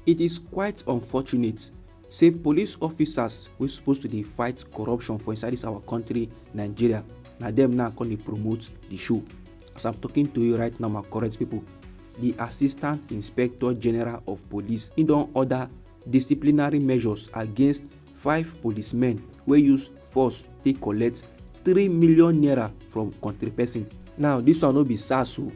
It is quite unfortunate say police officers wey suppose to dey fight corruption for inside this our country Nigeria na them now come dey promote the show. As I'm talking to you right now my correct people, the Assistant Inspector General of Police he don order disciplinary measures against five policemen wey use force take collect three million naira from country person. Now this one no be SARS o,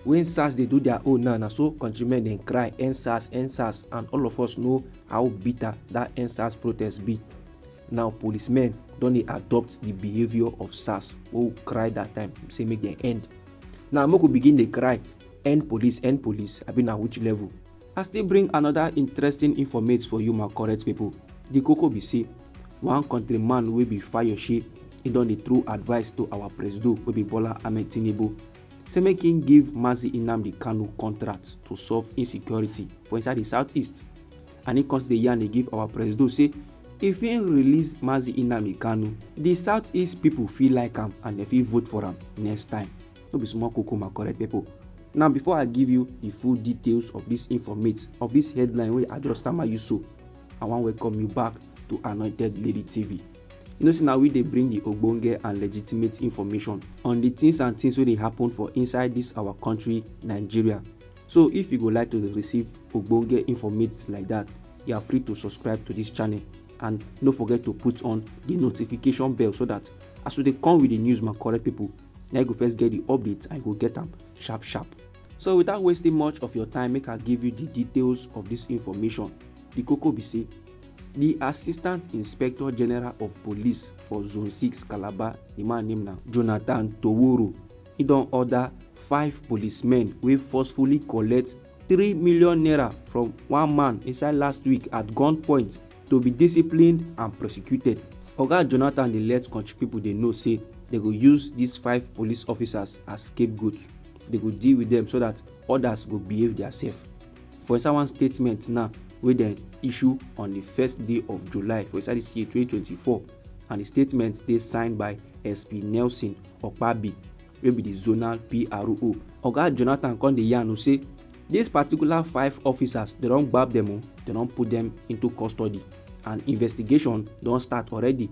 when sars dey do their own now na so countrymen dey cry end sars end sars and all of us know how bitter that end sars protest be now policemen don dey adopt the behaviour of sars wey we cry that time say make dem end now make we begin dey cry end police end police abi na which level i still bring another interesting informate for you my correct people the koko be say one country man wey be fayose he don dey throw advice to our presido wey be bola ahmed tinubu say make him give Mazi Nnamdi Kanu contract to solve insecurity for inside the southeast and he come dey yarn dey give our presido say if he release Mazi Nnamdi Kanu the southeast people fit like am and dem fit vote for am next time no be small koko my correct people now before I give you the full details of this informate of this headline wey I just stammer you so I wan welcome you back to Anointed Lady TV You know say na we dey bring the ogbonge and legitimate information on the things and things wey dey happen for inside this our country Nigeria. So if you go like to dey receive ogbonge informate like that, you are free to subscribe to this channel and no forget to put on the notification bell so that as we dey come with the news my correct people, na you go first get the updates and you go get am sharp sharp. So without wasting much of your time, make I give you the details of this information. The koko be say di assistant inspector general of police for zone 6 calabar di man name na jonathan toworo e don order five policemen wey forcefully collect three million naira from one man inside last week at gunpoint to be disciplined and prosecuted oga jonathan dey let country pipo dey know say dem go use dis five police officers as scapegoat dem go deal with dem so dat odas go behave diasef For inside one statement now wey dem issue on di first day of July for inside dis year 2024 and di statement dey signed by SP Nelson Okpabi wey be di zonal PRO. Oga Jonathan come dey yarn o say dis particular five officers dem don gbab dem o, dem don put dem into custody and investigation don start already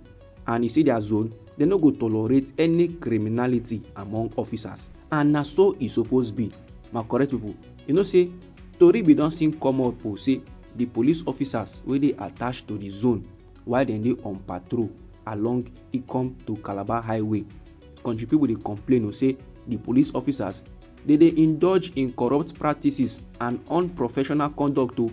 and e say dia zone dem no go tolerate any criminality among officers and na so e suppose be my correct pipo. You know say tori bin don still come up o say di police officers wey dey attached to di zone while dem dey on patrol along Ikom to Calabar highway, kontri pipo dey complain o say di police officers dey dey indulge in corrupt practices and unprofessional conduct o.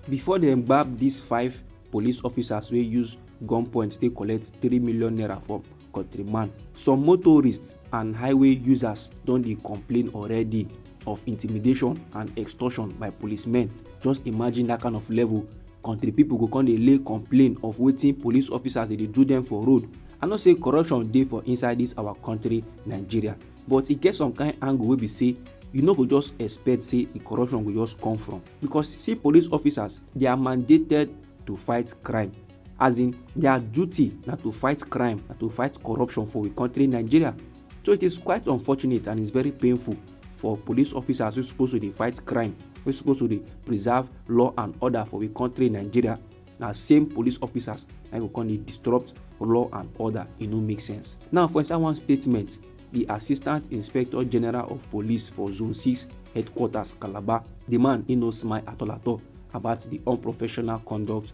Before dem gbab dis five police officers wey use gunpoint take collect three million naira from countryman. Some motorists and highway users don dey complain already of intimidation and extortion by policemen. Just imagine that kind of level. Country people go come dey lay complain of wetin police officers dey dey do them for road. I know say corruption dey for inside this our country Nigeria but e get some kind angle wey be say you no go just expect say the corruption go just come from because see police officers they are mandated to fight crime as in their duty na to fight crime na to fight corruption for we country nigeria so it is quite unfortunate and it's very painful for police officers wey suppose to dey fight crime wey suppose to dey preserve law and order for we country nigeria na same police officers na go come dey disrupt law and order e no make sense now for inside one statement di assistant inspector general of police for zone 6 headquarters calabar di man e no smile at all at all about di unprofessional conduct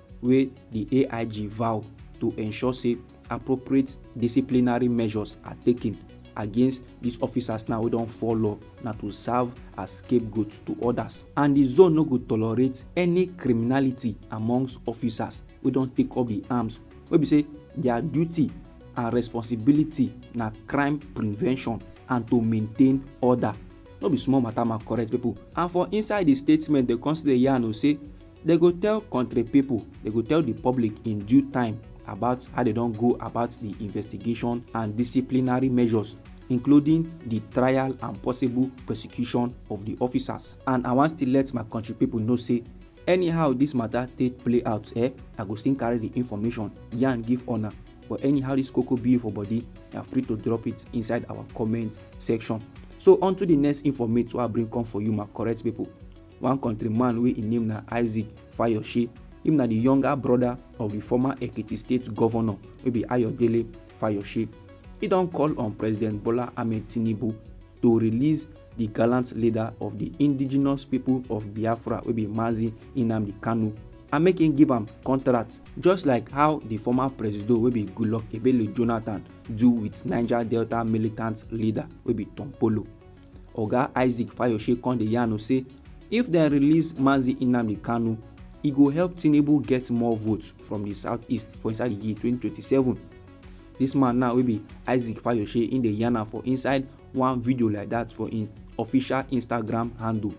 wey di AIG vow to ensure say appropriate disciplinary measures are taken against dis officers now wey don fall law na to serve as scapegoats to odas and di zone no go tolerate any criminality amongst officers wey don take up di arms wey be say dia duty and responsibility na crime prevention and to maintain order no be small mata ma correct pipo and for inside di statement dem come still dey yarn o say They go tell country people, they go tell the public in due time about how they don't go about the investigation and disciplinary measures including the trial and possible prosecution of the officers. And I want still let my country people know say anyhow this matter take play out eh, I go still carry the information yarn give honor but anyhow this cocoa be for body you are free to drop it inside our comment section so on to the next informate wey i bring come for you my correct people One country man wey im name na Isaac Fayose, im na di younger broda of di former Ekiti state govnor wey be Ayodele Fayose, e don call on President Bola Ahmed Tinubu to release di gallant leader of di indigenous pipo of Biafra wey be Mazi Nnamdi Kanu and make im give am contract just like how di former presido wey be Goodluck Ebele Jonathan do wit Niger Delta militant leader wey be Tom Polo. Oga Isaac Fayoshe come dey yarn say if dem release Mazi Nnamdi Kanu, e go help Tinubu get more votes from di southeast for inside di year 2027. Dis man now wey be Isaac Fayoshe im dey yarn am for inside one video like dat for im official Instagram handle.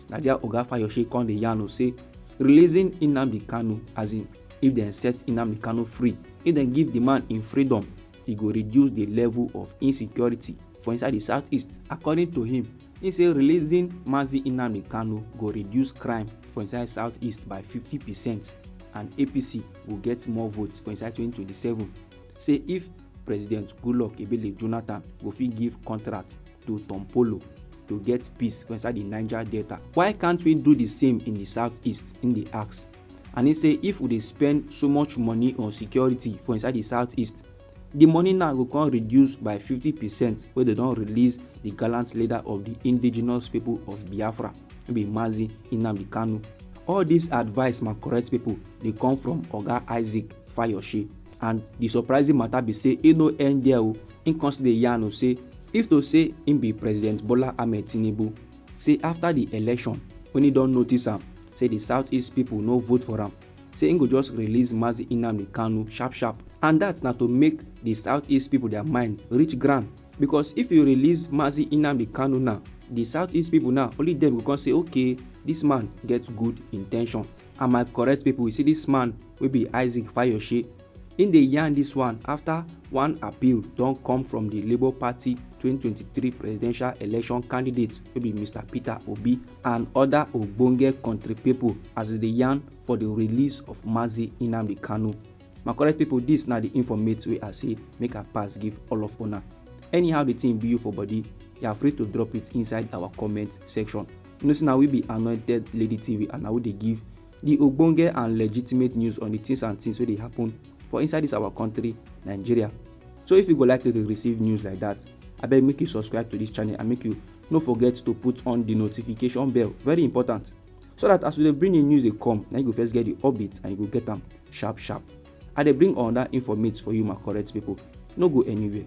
Na there Oga Fayoshe come dey yarn say releasing Nnamdi Kanu as in if dem set Nnamdi Kanu free, if dem give di man im freedom, e go reduce di level of insecurity for inside di southeast according to him he say releasing mazi nnamdi kanu go reduce crime for inside southeast by 50 percent and apc go get more votes for inside 2027 say if president goodluck ebele jonathan go fit give contract to tom polo to get peace for inside di niger delta why can't we do di same in di southeast im dey ask and he say if we dey spend so much money on security for inside the southeast the money now go come reduce by 50 percent wey dem don release the gallant leader of the indigenous people of biafra wey be mazi nnamdi kanu all this advice my correct people dey come from oga isaac fayoshe and the surprising matter be say e no end there o im come still dey yarn o say if to say im be president bola ahmed tinubu say afta di election wen e don notice am say di southeast pipo no vote for am say im go just release Mazi Nnamdi Kanu sharp sharp and dat na to make di southeast pipo dia mind reach ground becos if you release Mazi Nnamdi Kanu now di southeast pipo now only dem go come say okay dis man get good intention and my correct pipo you see dis man wey be Isaac Fayose Im dey yarn dis one afta one appeal don come from di Labour Party twenty twenty three presidential election candidate wey be Mister Peter Obi and oda ogbonge kontri pipo as dem dey yarn for di release of Mazi Nnamdi Kanu. My correct pipo dis na di informate wey I say make I pass give all of una. Anyhow di tin be you for body, you are free to drop it inside our comment section. You know say na we be Anointed Lady TV and na we dey give di ogbonge and legitimate news on di things and things wey dey happen for inside dis our country nigeria so if you go like to dey receive news like dat abeg make you subscribe to dis channel and make you no forget to put on di notification bell very important so dat as we dey bring new news dey come na you go first get di update and you go get am sharp sharp i dey bring another informate for you my correct pipo no go anywhere